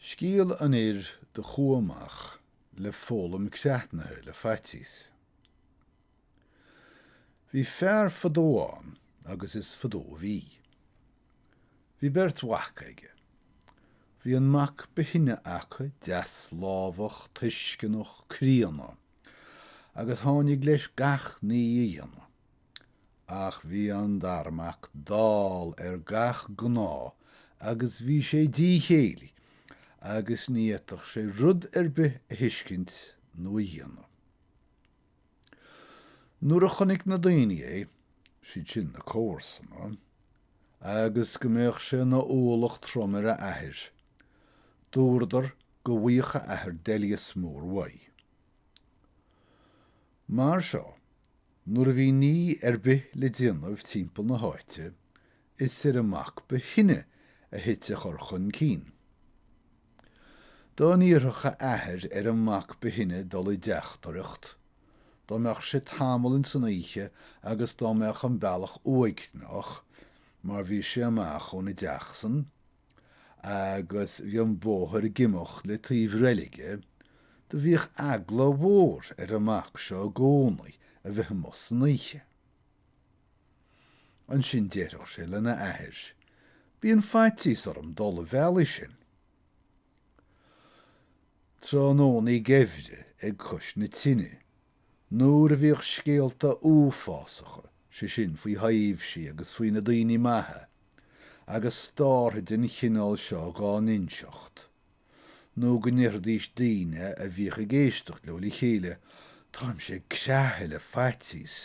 Scéal an fhir do chuaigh amach le foghlaim creathnaithe le faitíos. Bhí fear fadó ann agus is fadó a bhí. Bhí beirt mhac aige. Bhí an mac ba shine acu deaslámhach, tuisceanach, críonna, agus tháinig leis gach ní a dhéanamh. Ach bhí an dara mac dall ar gach gnó agus bhí sé díchéillí agus ní fhéadfadh sé rud ar bith a thuiscint nó a dhéanamh. Nuair a chonaic na daoine é, siad sin na comharsana, agus go mbeadh sé ina ualach trom ar a athair, dúradar go bhfaigheadh a athair doilíos mór uaidh. Mar seo Nuair a bhí ní ar bith le déanamh timpeall na háite, is ar an mac ba shine a thit a chur chun cinn. Dá n-iarrfadh a athair ar an mac ba shine dul i dteachtaireacht, dá mbeadh sé tamall ins an oíche agus dá mbeadh an bealach uaigneach, mar bhí sé amach óna dteach san, Agus bhí an bóthar ag imeacht le taobh reilige, do bhíodh eagla mhór ar an mac seo i gcónaí a bheith amuigh san oíche. Ansin déarfadh sé lena athair, Bíonn faitíos orm dul an bealach sin. Tráthnónaí geimhridh ag cois na tineadh, Nuair a bhíodh scéalta uafásacha, sé sin, faoi thaibhsí agus faoi na daoine maithe, agus startha den chineál seo dhá n-inseacht, nó go ndéarfaidís daoine a bhíodh ag éisteacht leo le chéile, Táimse ag creathadh le faitíos!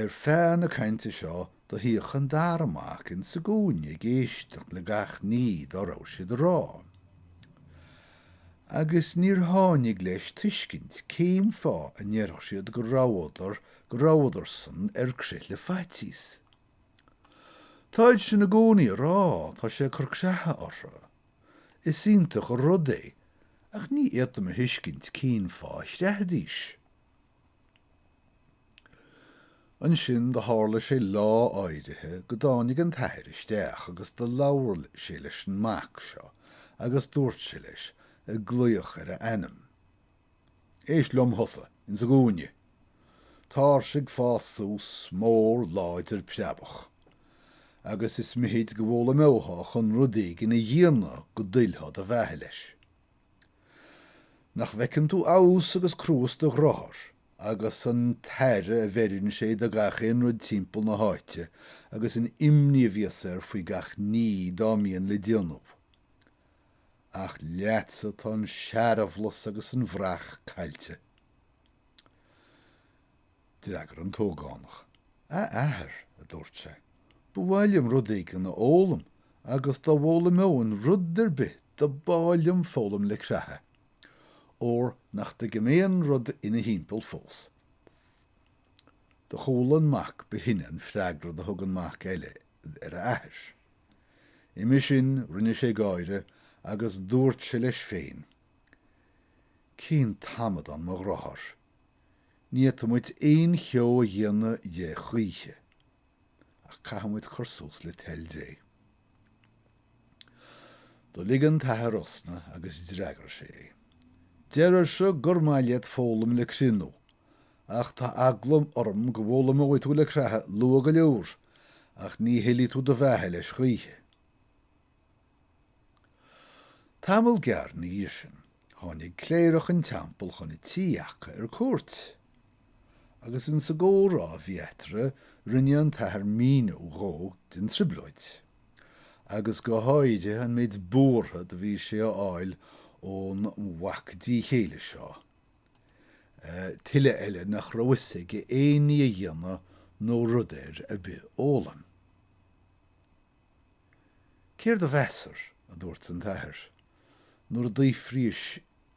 Ar feadh na cainte seo do shuíodh an dara mac ins sa gcúinne ag éisteacht le gach ní dá raibh siad a rá. Agus níor tháinig leis tuiscint cén fáth a ndéarfadh siad go rabhadar go rabhadarsan ar crith le faitíos. Táid sin i gcónaí a rá, tá sé ag cur creatha orthu. Is iontach an rud é, ach ní fhéadaim a thuiscint cén fáth a chreathfaidís. Ansin do thárla sé lá áirithe go dtáinig an t-athair isteach agus do labhair sé leis an mac seo agus dúirt sé leis ag glaoch ar a ainm, Éist liom thusa ins an gcúinne. Táir-se ag fás suas mór láidir preabach, agus is mithid go bhfoghlaimeothá chun rud éigin a dhéanamh go dtuillfeá do bheatha leis. Nach bhfeiceann tú fheabhas agus cruas do dheartháir, agus an t-aire a bheireann sé do gach aon rud timpeall na háite, agus an imní a bhíos air faoi gach ní dá mbíonn le déanamh? Ach leatsa tá an searbhlus agus an bhraich caillte. D'fhreagair an t-ógánach, A athair, a dúirt sé, ba mhaith liom rud éigin a fhoghlaim, agus dá bhfoghlaimeoinn rud ar bith do b'áil liom foghlaim le creathadh, óir nach dtuigim aon rud ina thimpeall fós. Do chuala an mac ba shine an freagra do thug an mac eile ar a athair. Uime sin rinne sé gáire agus dúirt sé leis féin, Cén t-amadán mo dheartháir! Ní fhéadfaimid aon cheo a dhéanamh dhe choíche, ach caithfimid cur suas le toil Dé. Do lig an t-athair osna agus d'fhreagair sé é. Deirirse gur maith leat foghlaim le criothnú, ach tá eagla orm go bhfoghlaimeoidh tú le creathadh luath go leor, ach ní thuillfidh tú do bheatha leis choíche. Tamall gearr na dhiaidh sin tháinig cléireach an teampaill chun a tí aca ar cuairt, agus insa gcómhrá a bhí eatartha rinne an t-athair míniú dhó den trioblóid, agus go háirithe an méid buartha do bhí sé a fháil ón mhac díth-chéille seo, tuille eile nach raibh fhios aige aon ní a dhéanamh nó rud air a bith fhoghlaim. Céard do mheasair? a dúirt an t-athair, nuair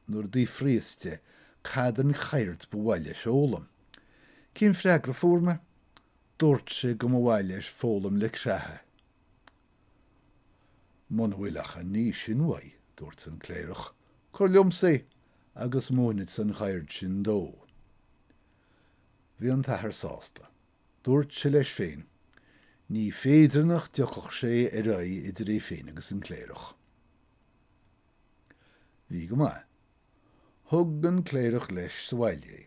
nuair a d'fhiafraíos de cad an cheird ba mhaith leis fhoghlaim. Cén freagra fuair mé? Dúirt sé go mba mhaith leis foghlaim le creathadh. Muna bhfuil ach an ní sin uaidh, dúirt an cléireach, cuir liomsa é agus múinfeadsa an cheird sin dó. Bhí an t-athair sásta. Dúirt sé leis féin, Ní féidir nach dtiocfadh sé ar aghaidh idir é féin agus an cléireach. Bhí go maith. Thug an cléireach leis sa bhaile é,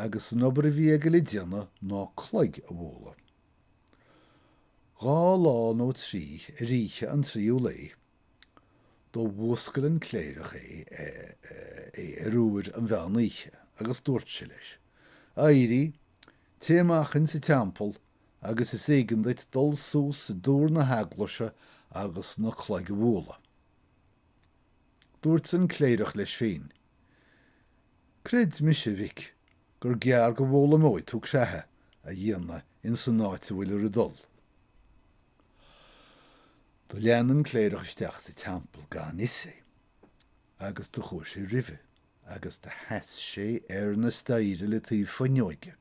agus an obair a bhí aige le déanamh ná cloig a bhualadh. Dhá lá nó trí ar oíche an tríú lae Do mhúscail an cléireach é ar uair an mheán oíche agus dúirt sé leis, Éirigh, téigh amach insa teampall agus is éigean duit dul suas i dtúr na heaglaise agus na cloig a bhualadh. Dúirt an cléireach leis féin, Creid mise, a mhic, gur gearr go bhfoghlaimeoidh tú creathadh a dhéanamh insan áit a bhfuilir ag dul. Do lean an cléireach isteach sa teampall gan fhios é, agus do chuaigh sé roimhe, agus do sheas sé ar na staighre le taobh fuinneoige.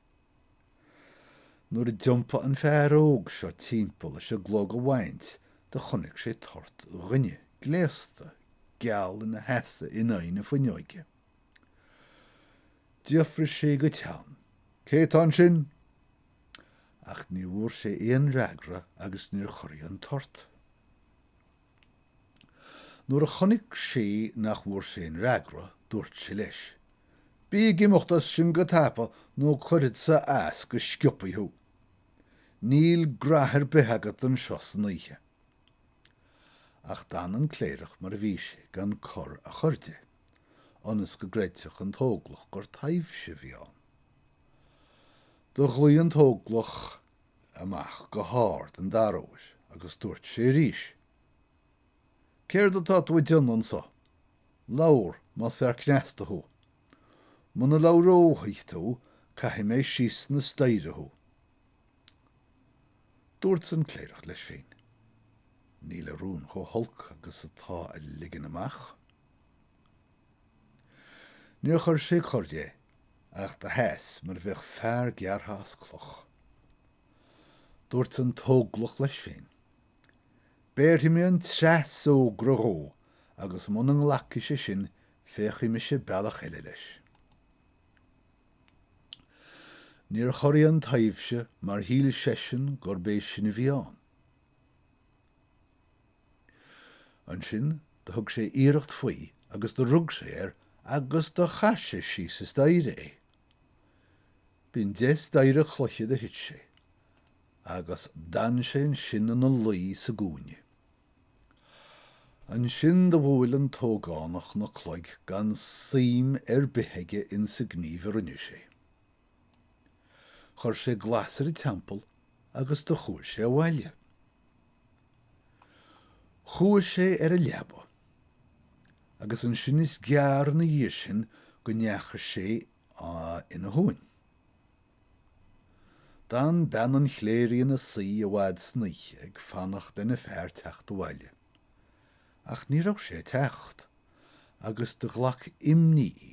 Nuair a d'iompaigh an fear óg seo timpeall leis an gclog a bhaint, do chonaic sé toirt dhuine gléasta geal ina sheasamh in aghaidh na fuinneoige. D'fhiafraigh sé go teann, Cé atá ansin? Ach ní bhfuair sé aon fhreagra agus níor chorraigh an toirt. Nuair a chonaic sé nach bhfuair sé aon fhreagra, dúirt sé leis, Bí ag imeacht as sin go tapa nó cuirfead-sa as go sciobthaí thú. Níl graithe ar bith agat anseo san oíche. Ach d'fhan an cléireach mar a bhí sé gan cor a chur de. ionas go gcreidfeadh an t-óglach gur taibhse a bhí ann. Do ghlaoigh an t-óglach amach go hard an dara huair agus duairt sé arís, Céard atá tú ag déanamh anso? Labhair, más fear cneasta thu. Muna labhróidh tú caithfidh mé síos na staighre thu. Duairt an cléireach leis féin, Níl a rún chómh holc agus atá a ligean amach. Níor chuir sé cor de ach do sheas mar a bheadh fear gearrtha as cloch. Dúirt an t-óglach leis féin, Béarfaidh mé an treas fhógra dhó agus muna nglacfaidh sé sin féachfaidh mise bealach eile leis. Níor chorraigh an taibhse mar shíl seisean gurb é sin a bhí ann. Ansin do thug sé iarracht faoi agus do rug sé air agus do chaith sé síos an staighre é. B'ion deich staighre cloiche do thit sé, agus d'fhan sé ansin ina luí sa gcúinne. Ansin do bhuail an t-ógánach na cloig gan suim ar bith aige ins an ghníomh a rinne sé. Chuir sé glas ar an teampall agus do chuaigh sé abhaile. Chuaigh sé ar a leaba. Agus ansin is gearr ina dhiaidh sin go ndeachaigh sé ina shuan. D'fhan bean an chléirigh ina suí i bhfad san oíche ag fanacht lena fear teacht abhaile. Ach ní raibh sé ag teacht, agus do ghlac imní í.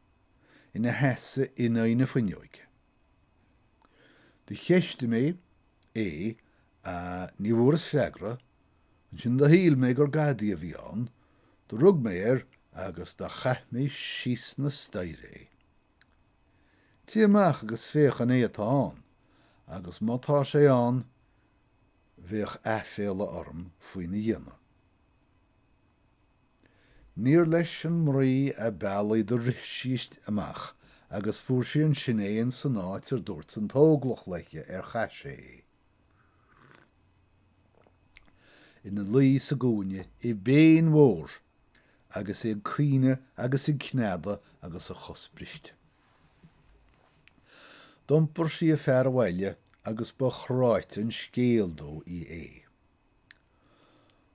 ina sheasamh in aghaidh na fuinneoige. Do cheistigh mé é ach ní bhfuaras freagra, ansin do shíl mé gur gadaí a bhí ann, do rug mé air agus do chaith mé síos na staighre é. Téigh amach agus féach an é atá ann, agus má tá sé ann, bheadh aiféala orm faoina dhéanamh. Níor leis an mnaoi ab fhaillí do rith sí amach agus fuair sí ansin é in san áit ar dúirt an t-óglach leithe ar chaith sé é. Ina luí sa gcúinne i bpéin mhór agus é ag caoineadh agus ag cneadadh agus a chos briste. D'iompar sí a fear abhaile agus ba chráite an scéal dóithí é.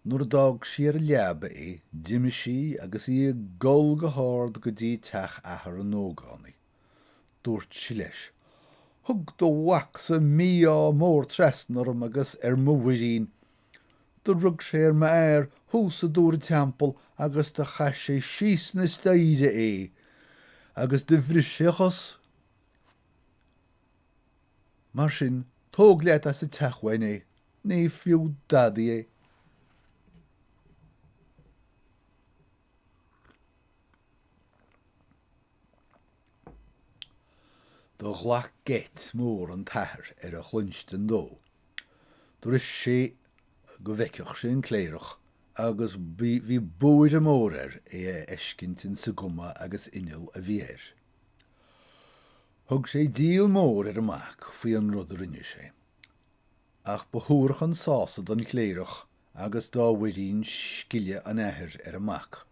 Nuair a d'fhág sí ar a leaba é, d'imigh sí agus í ag gol go hard go dtí teach athar an ógánaigh. Dúirt sí leis, Thug do mhacsa mí-ádh mór trasna orm agus ar mo mhuirín. Do rug sé ar m'fhear thuas i dtúr an teampaill agus do chaith sé síos na staighre é, agus do bhris sé a chos. Mar sin, tóg leat as an teach uainn é, ní fiú dadaí é. Do ghlac geit mór an t-athair ar a chluinstin dó. Do rith sé go bhfeicfeadh sé an cléireach agus bhí buaidhreadh mór air é a fheiscint insa gcuma agus inneall a bhí air. Thug sé díol mór ar an mac faoi an rud a rinne sé, ach ba shuarach an sásamh don chléireach agus dá mhuirín scileadh an athar ar an mac.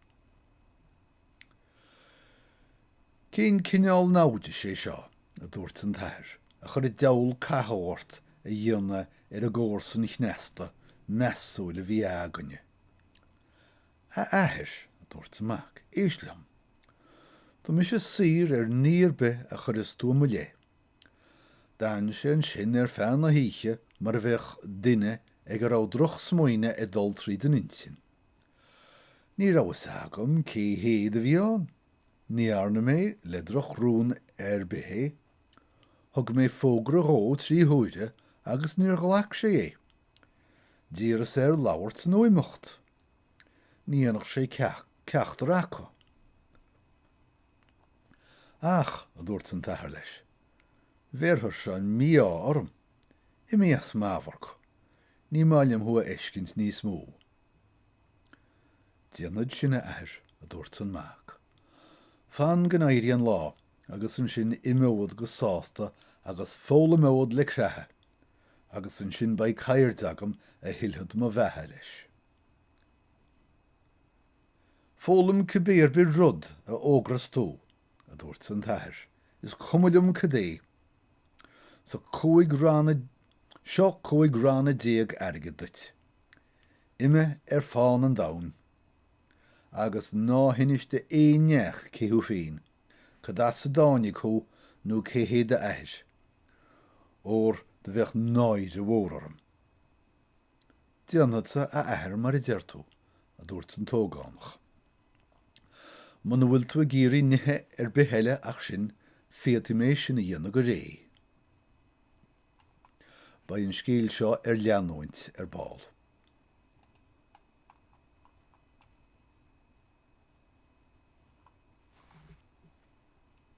Cén cineál naimhdis é seo, a dúirt an t-athair, a chuir an diabhal cathú ort a dhéanamh ar an gcomharsan chneasta measúil a bhí againne? A athair, a dúirt an mac, éist liom. Tá mise saor ar ní ar bith a chuireas tú i mo leith. D'fhan sé ansin ar feadh na hoíche mar a bheadh duine ag a raibh drochsmaoineamh ag dul tríd an intinn. Ní raibh fhios agam cé hé do bhí ann. Ní dhearna mé le drochrún ar bith é. Thug mé fógra dhó trí huaire agus níor ghlac sé é. D'iarras air labhairt nó imeacht. Ní dhéanfadh sé ceachtar acu. Ach, a dúirt an t-athair leis, bhéarfairse an mí-ádh orm. Imigh as m'amharc! Ní maith liom thú a fheiscint níos mó. Déanfad sin, a athair, a dúirt an mac. Fan go n-éirí an lá agus ansin imeod go sásta agus foghlaimeod le creathadh! agus ansin beidh ceird agam a thuillfead mo bheatha leis. Foghlaim cibé ar bith rud a thogras tú, a dúirt an t-athair, is cuma liom cad é. Seo cúig ranna, seo cúig ranna déag airgid duit, imigh ar fán an domhain, agus ná hinis do aon neach cé thú féin, cad as a dtáinig thú nó cé hé d'athair. óir do bheadh náire mhór orm. Déanfadsa, a athair, mar a deir tú, a dúirt an t-ógánach. Muna bhfuil tú ag iarraidh nithe ar bith eile ach sin, féadfaidh mé sin a dhéanamh go réidh. Beidh an scéal seo ar leanúint ar ball.